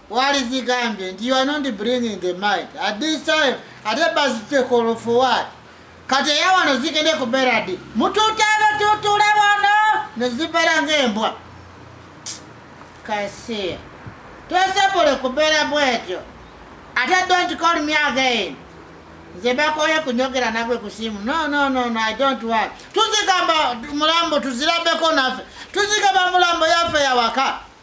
walizigambye nti you are not bringing the mind at this time ate bazitekolo for what kati eyawano zigende kubeera di mutuuta abatuutuula wano nezibeera ngaembwa kasiya tosobole kubeera bwetyo ate don't call me again nze bakoye kunyogera nagwe kusimu no no no no i don't want tuzigamba mulambo tuzirabeko naffe tuzigamba mulambo yaffe yawaka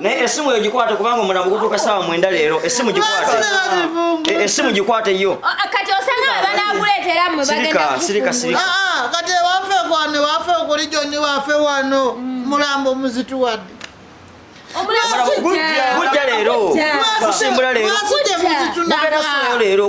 naye esimu yo gikwate kubanga omulambo gutuuka saawa mwenda leero esimu gikwate e, esimu gikwate yo kati osanga webanakuleetera mwe bagenda sirika sirika ah, ah, kati ewafe kwano ewafe okuli joni wafe wano mm. mulambo muzituwadde gujja leero gusimbula leero leero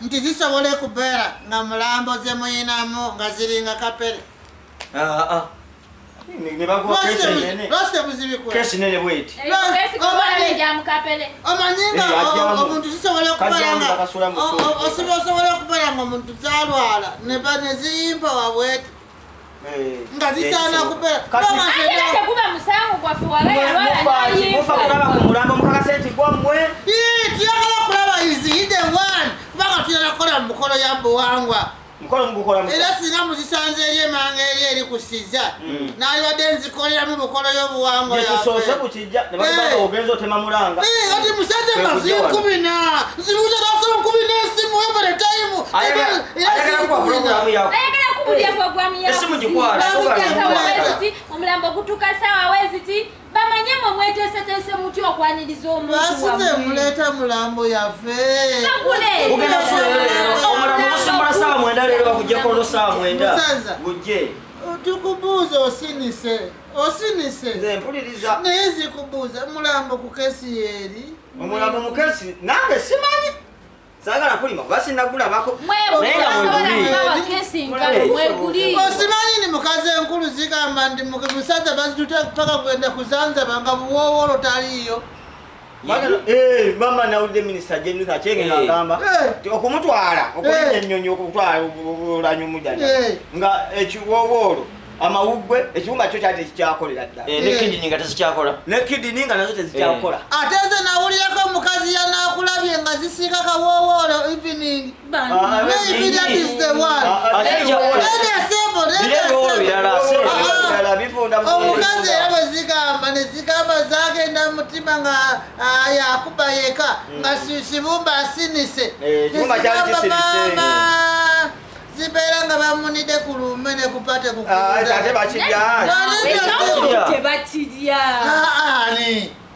nti zisobola ekubeera nga mulambo zemuyinamu nga ziringa kapere omanyingaomuntu zisobola okubeera nga omuntu zalwala neziyimba wabwete nga zisaana kubeerakuba musango gwaffe walayakuba ku mulambo mukakase nti gwammwe tuyagala okulaba iziyide one kubanga tuyala kukola mu mukolo ya buwangwa era singa muzisanze eri emanga eri eri kusiza mm. nalibadde nzikoleramu bukolo y'obuwangwa yafe ati musajja maziyo nkumi na nzibuza nasoma nkumi n'esimu every time omulambo gutuka sawa weziti bamanye mwe mweteeseteese muti okwaniriza omuntuwasize muleeta mulambo yaffe tukubuuza osinise osinise nze mpuliriza naye nzikubuuza mulambo ku kesi yeeri omulambo mu kesi nange simanyi sagala kulima kuba sinagulabako osimanyi ni mukazi enkulu zigamba nti musajja bazitute paka kugenda kuzanzaba nga buwoowolo taliiyo Eh, mama nawulidde minisita jenutha akyenge eh. ngagamba eh. okumutwala okulinda ennyonyi okutwala olanyumu jana nga ekiwoowo olwo amawuggwe ekiwumba kyo kyali tekikyakolera ddala nekidini nga tezikyakola nekidini nga nazo tezikyakola ate nze nawulirako omukazi yanakulabye nga zisiika kawoowo olwo evening Maybe that is the one. Let us assemble, let us assemble. omukazi era bwe zigamba ne zigamba zagenda mu mutima nga ah, yakuba yeka mm. nga kibumba asinise eh, maama zibeera nga bamunide ku lumbe ne kupate kukuudaate ah, bakirya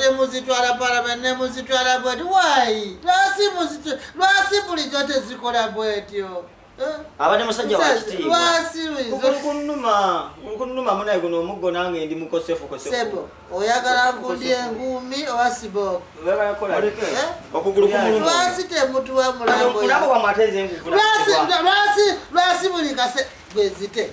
nemuzitwala parliament nemuzitwala bweti wayi lwasi bulijo tezikola bwetyo abadde musajja wakitiibwakunuma kunuma munaye guno omuggo nange ndi mukosefukosefu oyagala nkundye engumi oba sibookugululwasi eh? temutuwa mulambo lwasi buli kase gwezite